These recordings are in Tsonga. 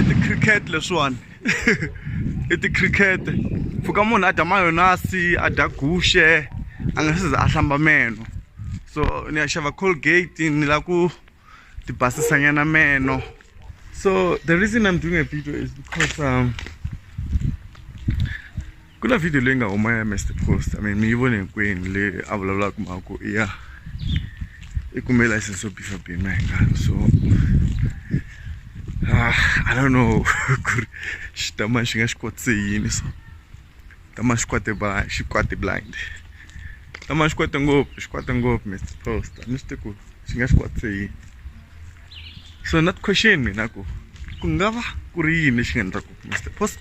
i ti-cricket leswiwani i ti-cricket pfuka munhu a dya mayonasi a dya guxe a nga se za a hlamba meno so ni ya xava colgate ni la ku ti basisa nyana meno so the reason I'm doing a video is because um ku na video leyi nga huma ya Mr Post I mean mi yi vone hinkwenu leyi a vulavulaka mhaka i ya i kume license yo bifa bima hi ngani so ah, I don't know ku ri xitama xi nga xi kotise yini so tama xi kwate ba xi kwate blind tama xi kwate ngopfu xi kwate ngopfu Mr Post a ni swi tivi ku xi nga xi kwatise yini so not question mina ku ku nga va ku ri yini lexi nga endlaku Mister Post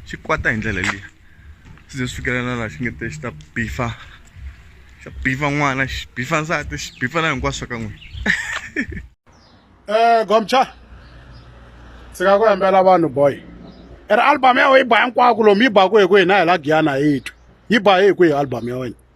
xi kwata hi ndlela leyi swi ze swi fikelela laha xi nge te xi ta bifa xa bifa n'wana xi bifa nsati xi bifa na hinkwaswo ka n'wina eh gomcha ndzi nga ku hembela vanhu boy i ri album ya wena yi ba hinkwako lomu yi baku hi ku hina hi la giyana hi twi yi ba hi kwihi album ya wena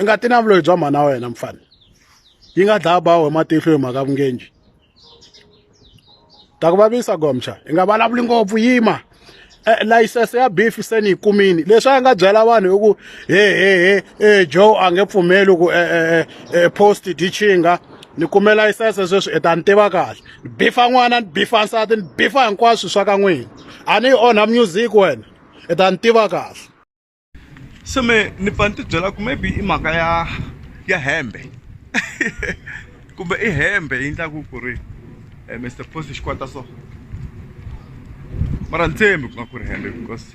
i nga ti na vuloyi bya mhana wa wena mfana yi nga dlaya bawo hi matihlo hi mhaka vungenji ta ku vavisa gomcha hi nga vulavuli ngopfu yima Eh, layisense ya beef se ni yi kumini leswi a nga byela vanhu hi ku he he he eh, joe a nge pfumeli ku eh, post dichinga ni kume layisense sweswi i ta ni tiva kahle ni bifa n'wana ni bifa nsati ni bifa hinkwaswo swa ka n'wina a ni yi onha music wena i ta ni tiva kahle se me ni pfa ni tibyela ku maybe i mhaka ya ya hembe kumbe i hembe yi endlaku ku ri eh, mr post xi kwata so mara ni tshembi ku nga ku ri hembe because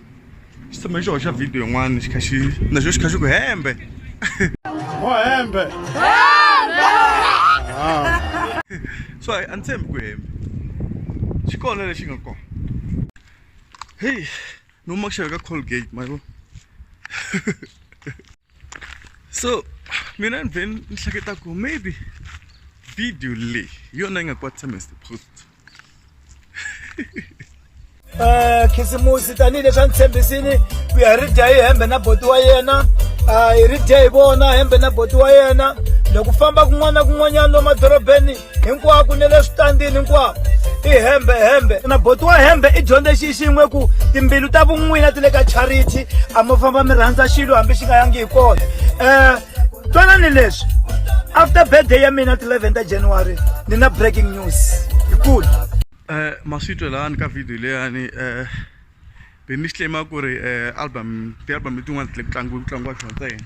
xi tshame xi hoxa video yin'wana xi kha xi na xo xi kha xi ku hembe o hembe so a ni tshembi ku hembe xi kona lexi nga kona heyi Nu mă știu că Colgate mai bă. so, mina ni veni ni hleketa ku maybe video leyi hi yona yi nga kwatisa mr post um khisimusi tanihileswi a ni tshembisini ku ya hi ri dya hi hembe na boti wa yena um hi ri dya hi vona hembe na boti wa yena loko famba kun'wana na kun'wanyana lomadorobeni hinkwako ni le switandini hinkwako i hembe hembe na boti wa hembe i dyondze xi xin'we ku timbilu ta vun'wina ti le ka charity a mo famba mi rhandza xilo hambi xi nga yangi hi kona um twanani leswi after birthday ya mina ti 11 ta january ni na breaking news yikulu um eh, maswitwelani ka video leyani um eh, be mi xi claima ku ri eh, album ti-album letin'wana ti le ku tlangiwa ku tlangiwa xona ntsena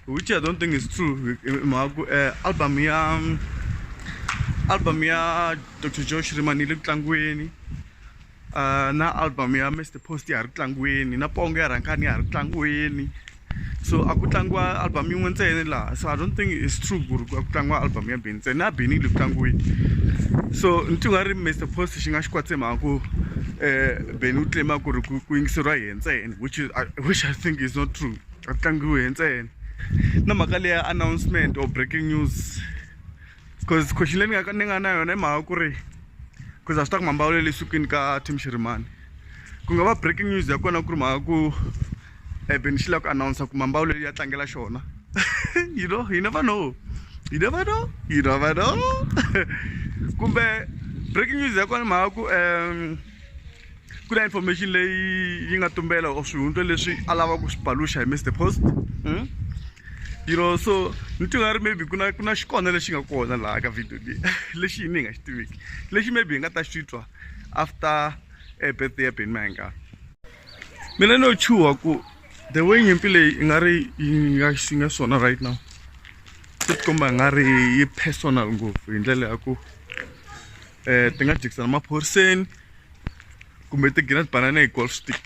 which i don't think is true hi mhaka ku eh, album ya album ya dr joe shriman yi le ku tlangiweni ah, na album ya mr post ya ha ri ku tlangiweni na pongo ya rhankani ya ha ri ku tlangiweni so a ku tlangiwa album yin'we ntsena laha so i don't think it's true ku ri a ku tlangiwa album ya beni ntsena na beni yi le ku tlangiweni so ni ti nga ri mr post xi nga xi kwatse mhaka ku um eh, beni u tlema ku ri ku yingiseriwa hi ntsena which is which i think is not true a ku tlangiwi hi ntsena na mhaka leya announcement or breaking news cause khoxi leyi ni nga ni nga na yona i mhaka ku ri cause a swi ta ku mambawulo le sukwini ka team xirimani ku nga va breaking news ya kona ku ri mhaka ku eben xi lava ku announce ku mambawulo ya tlangela xona you know you never know you never know you never know kumbe breaking news ya kona mhaka ku um ku na information leyi yi nga tumbela or swihundla leswi a lava ku swi paluxa hi mr post hmm? you know so ni ti nga ri maybe ku na ku na xikona lexi nga kona laha ka video leyi lexi yini hi nga xi tiviki lexi maybe hi nga ta xi twa after eh, birthday ya beni mahinga mina no chuha ku the way nyimpi leyi i nga ri yi nga xi nga swona right now swi tikomba hi nga ri yi personal ngopfu hi ndlela ya ku um ti nga jikisana maphoriseni kumbe ti gina tibanana hi golf stick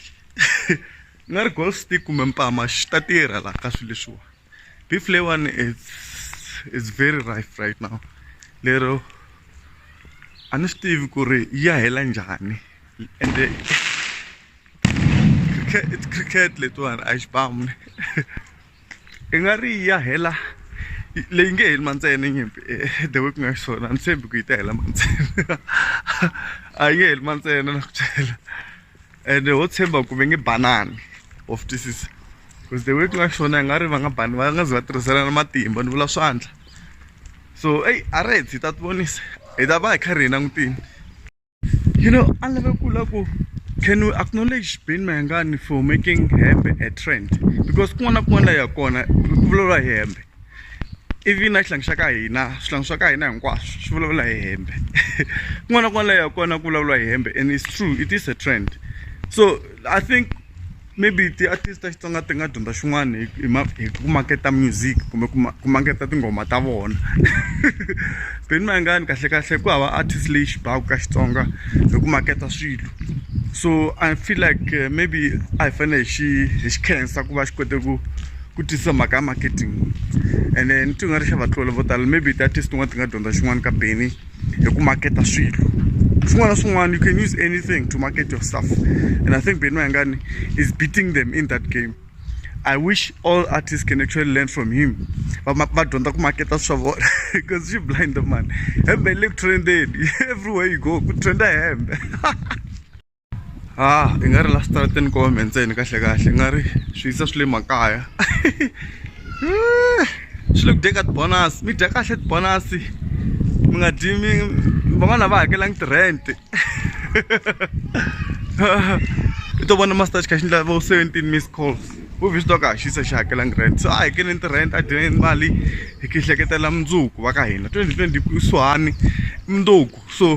ni nga ri golf stick kumbe mpama xi ta tirha laha ka swilo leswiwa beef leyiwani it's it's very rife right now lero a ni swi tivi ku ri yi ya hela njhani ende cricket it's cricket letiwani a yi xibamu i nga ri yi ya hela leyi nge heli mantsena nyimpi the way ku nga xiswona a ni tshembi ku yi ta hela mantsena a yi nge heli mantsena na ku byela ende ho tshemba ku ve nge banani of twisisa because the way ku nga xiswona i nga ri va nga bani va nga ze va tirhiselana matimba ni vula swandla so eyi a ri hi ta ti vonisa hi ta va hi kha hi langutini. You know, a ni lave ku la ku can we acknowledge Ben Mayengani for making hembe a trend because kun'wana na kun'wana la ya kona ku vulavula hi hembe ivi na xihlangi xa ka hina swihlangi swa ka hina hinkwaswo swi vulavula hi hembe kun'wana na kun'wana la ya kona ku vulavula hi hembe and it's true it is a trend so i think maybe ti-artist ta xitsonga ti nga dyondza xin'wana hi hi ku maketa music kumbe ku ku maketa tinghoma ta vona beni mayangani kahle kahle ku hava artist leyi xi baku ka xitsonga hi ku maketa swilo so i feel like eh, maybe a hi fanele hi xi hi xi khensa ku va xi kote ku ku tisa mhaka ya marketing ene ni ti nga ri xa vatlola vo tala maybe ti-artist tin'wana ti nga dyondza xin'wana ka beni hi ku maketa swilo swin'wana na swin'wana you can use anything to market your stuff and i think beni mayangani is beating them in that game i wish all artists can actually learn from him va dyondza ku maketa swa vona because she blind the man hembe le ku trendeni everywhere you go ku trenda hembe ha ah, i nga ri la switarateni ko wambe ntseni kahle kahle i nga ri swi yisa swi le makaya eh, swi le ku dyeka tibonasi mi dya kahle tibonasi mi nga dyi mi van'wana va hakelangi ti-rent i to vona master xikha xi ndla vo seventeen miss calls u vi swi twa ka ha xisa xi hakelangi rent so a hakeleni ti-rent a dyeni mali hi ki hleketela mundzuku va ka hina twenty twenty kusuhani mundzuku so